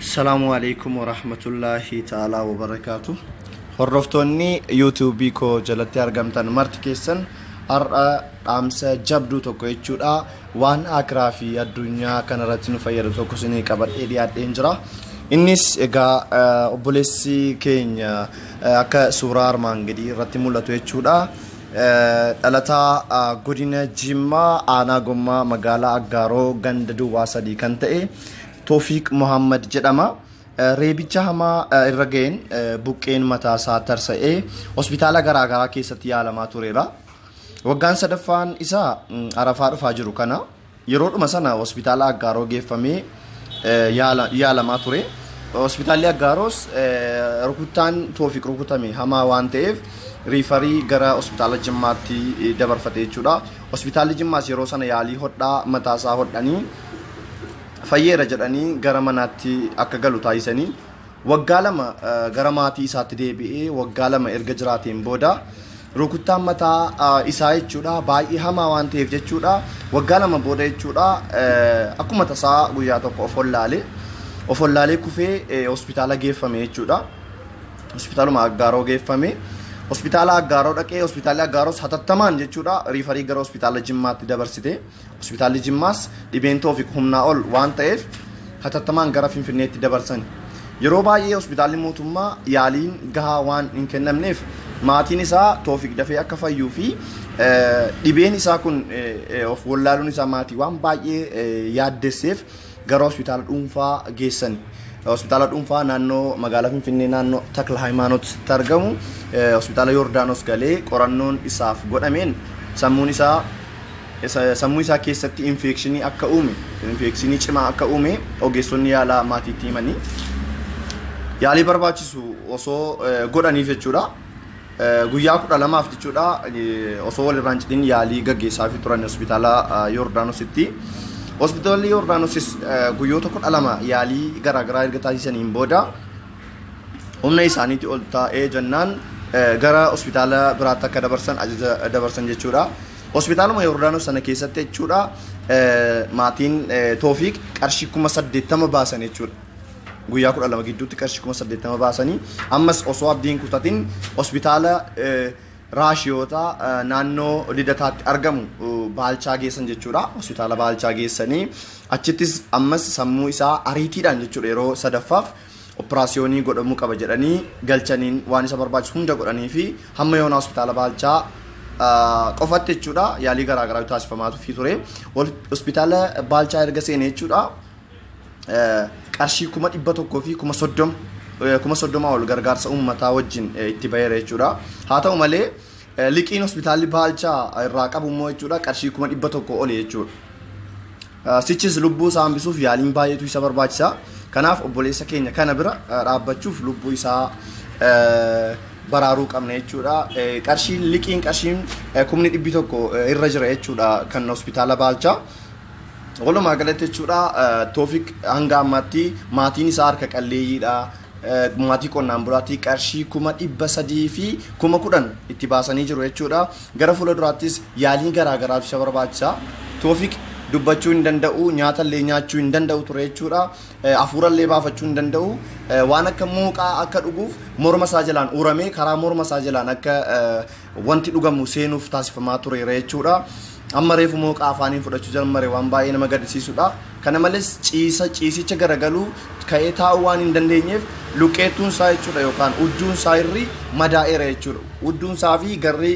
Salaamu alaikum wa rahmatullahi ta'ala wa barakaatu. Hordoftoonni YouTube koo jalatti argamtan marti keessan har'a dhaamsa jabduu tokko jechuudha. Waan akiraa fi addunyaa kanarratti nu fayyadu tokko isinii qabadhee dhiyaadheen jira. Innis egaa eh, obboleessi keenya eh, akka suuraa armaan gadii irratti mul'atu jechuudha. Dhalataa Godina Jimmaa Aanaa Gommaa Magaalaa Aggaaroo Ganda Duwwaa Sadii kan ta'e Toofiiq Mohaammed jedhama. Reebicha hamaa irra ga'een buqqeen mataa isaa tarsa'ee hospitaala garaagaraa keessatti yaalamaa tureera. Waggaan sadaffaan isaa arafaa dhufaa jiru kana. Yeroodhuma sana hospitaala Aggaaroo geeffamee yaalamaa ture. Hospitaalli Aggaaroos rukuttaan Toofiq rukutame hamaa waan ta'eef riifarii gara hospitaala Jimmaatti dabarfate jechuudha. Hospitaalli Jimmaas yeroo sana yaalii hodhaa mataasaa hodhanii fayyeera jedhanii gara manaatti akka galu taasisanii Waggaa lama gara maatii isaatti deebi'ee waggaa lama erga jiraateen booda rukuttaan mataa isaa jechuudha baay'ee hamaa waan ta'eef jechuudha waggaa lama booda jechuudha akkuma tasaa guyyaa tokko of hollaalee of hollaalee kufee hospitaala geeffame jechuudha hospitaaluma aggaaroo geeffame hospitaala aggaaroo dhaqee hospitaalli aggaaroos hatattamaan jechuudha riifarii gara hospitaala jimmaatti dabarsite Hospitaalli Jimmaas dhibeen Toofiq humnaa ol waan ta'eef hatattamaan gara Finfinneetti dabarsan. Yeroo baay'ee hospitaalli mootummaa yaaliin gahaa waan hin kennamneef maatiin isaa Toofiq dafee akka fayyuu fi dhibeen isaa kun of wallaaluun isaa maatii waan baay'ee yaaddesseef gara hospitaala dhuunfaa geessani. Hospitaala dhuunfaa naannoo magaalaa Finfinnee naannoo Takla Hayimaanootitti argamu hospitaala Yoordaanos galee qorannoon isaaf godhameen sammuun isaa sammuu isaa keessatti infeekshinii akka uume infeekshinii cimaa akka uume ogeessonni yaalaa maatiitti himanii yaalii barbaachisu osoo godhaniif jechuudha. Guyyaa kudha lamaaf jechuudha osoo walirraan cidhin yaalii gaggeessaafii turan hospitaala Yoordaanositti. Hospitaalli Yoordaanosis guyyoota kudha lama yaalii garaagaraa erga taasisaniin booda humna isaaniitti ol taa'ee jennaan gara hospitaala biraatti akka dabarsan ajaja dabarsan jechuudha. Hospitaaluma Yoordaanos sana keessatti jechuudha maatiin Toofiiq qarshii kuma saddeettama baasan jechuudha. guyyaa 12 gidduutti qarshii 80,000 baasanii ammas osoo abdii hin kutatin hospitaala raashiyoota naannoo lidataatti argamu baalchaa geessan jechuudha. Hospitaala baalchaa geessanii achittis ammas sammuu isaa ariitiidhaan jechuudha yeroo sadaffaaf operaasiyoonii godhamuu qaba jedhanii galchaniin waan isa barbaachisu hunda godhanii fi hamma yoona hospitaala baalchaa qofatti jechuudha yaalii garaagaraa taasifamaatu fi ture. Hospitaala baalchaa erga seenee jechuudha. qarshii kuma dhibba tokkoo fi kuma soddoma kuma soddoma ol gargaarsa uummataa wajjin itti baheera jechuudha. Haa ta'u malee liqiin hospitaalli baalchaa irraa qabu immoo jechuudha qarshii kuma dhibba tokko oli jechuudha. Sichis lubbuu isaa hambisuuf yaaliin baay'eetu isa barbaachisa. Kanaaf obboleessa keenya kana bira dhaabbachuuf lubbuu isaa baraaruu qabna jechuudha. Qarshiin liqiin qarshiin kumni dhibbi tokko irra jira jechuudha kan hospitaala baalchaa. Walumaa galatti jechuudha Toofik hanga ammaatti maatiin isaa harka qalleeyyiidha. Maatii qonnaan bulaatti qarshii kuma dhibba sadii fi kuma kudhan itti baasanii jiru jechuudha. Gara fuula duraattis yaaliin garaa garaatu isa barbaachisa. Toofik dubbachuu hin danda'u, nyaata illee nyaachuu hin danda'u ture jechuudha. Hafuura illee baafachuu hin danda'u. Waan akka mooqaa akka dhuguuf morma isaa jalaan uramee karaa morma isaa jalaan akka wanti dhugamu seenuuf taasifamaa tureera jechuudha. Amma reefu mooqa afaaniin fudhachuu jalmare waan baay'ee nama gaddisiisudha. Kana malees ciisa ciisicha garagaluu ka'ee taa'uu waan hin dandeenyeef luqqeettuun isaa jechuudha yookaan udduun isaa irri madaa'eera jechuudha. Udduun isaa fi garri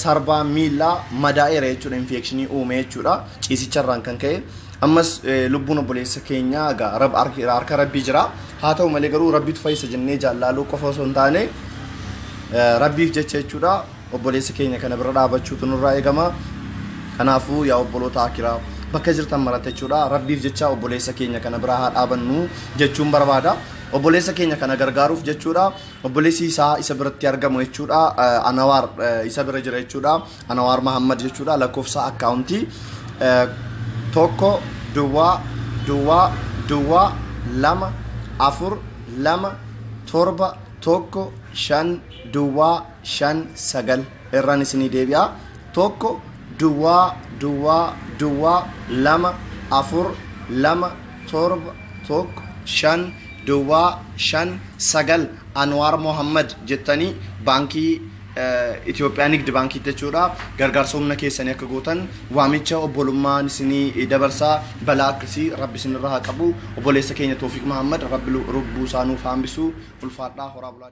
sarbaa miillaa madaa'eera jechuudha infeekshinii uume jechuudha ciisicharraan kan ka'e. Ammas lubbuun obboleessa keenyaa egaa harka rabbii jira. Haa ta'u malee garuu Rabbitu fayyisa jennee jaallaaluu qofa osoo hin taane Rabbiif jecha jechuudha obboleessa keenya kana bira dhaabachuutu nurraa eegama. Kanaafuu yaa obboloota akiraa bakka jirtan maratte jechuudha Rabbiif jecha obboleessa keenya kana bira haa dhaabannu jechuun barbaada. Obboleessa keenya kana gargaaruuf jechuudha obboleessi isaa isa biratti argamu jechuudha Anawaar isa bira jira jechuudha. Anawaar Mahammad jechuudha lakkoofsa akkaawuntii tokko duwwaa duwwaa duwwaa lama afur lama torba tokko shan duwwaa shan sagal irraan isinii deebi'a tokko duwwaa duwwaa duwwaa lama afur lama torba tokko shan duwwaa shan sagal Anwaar Mohammad jettanii baankii Itoophiyaa Nigdi Baankiitti jechuudha gargaarsa humna keessanii akka gootan waamicha obbolummaan isinii dabarsa balaa akkasii rabbi isinirra haa qabu obboleessa keenya Toofiq Mahammad rabbi lubbuu isaa nuuf haambisuu ulfaadhaa horaa bulaa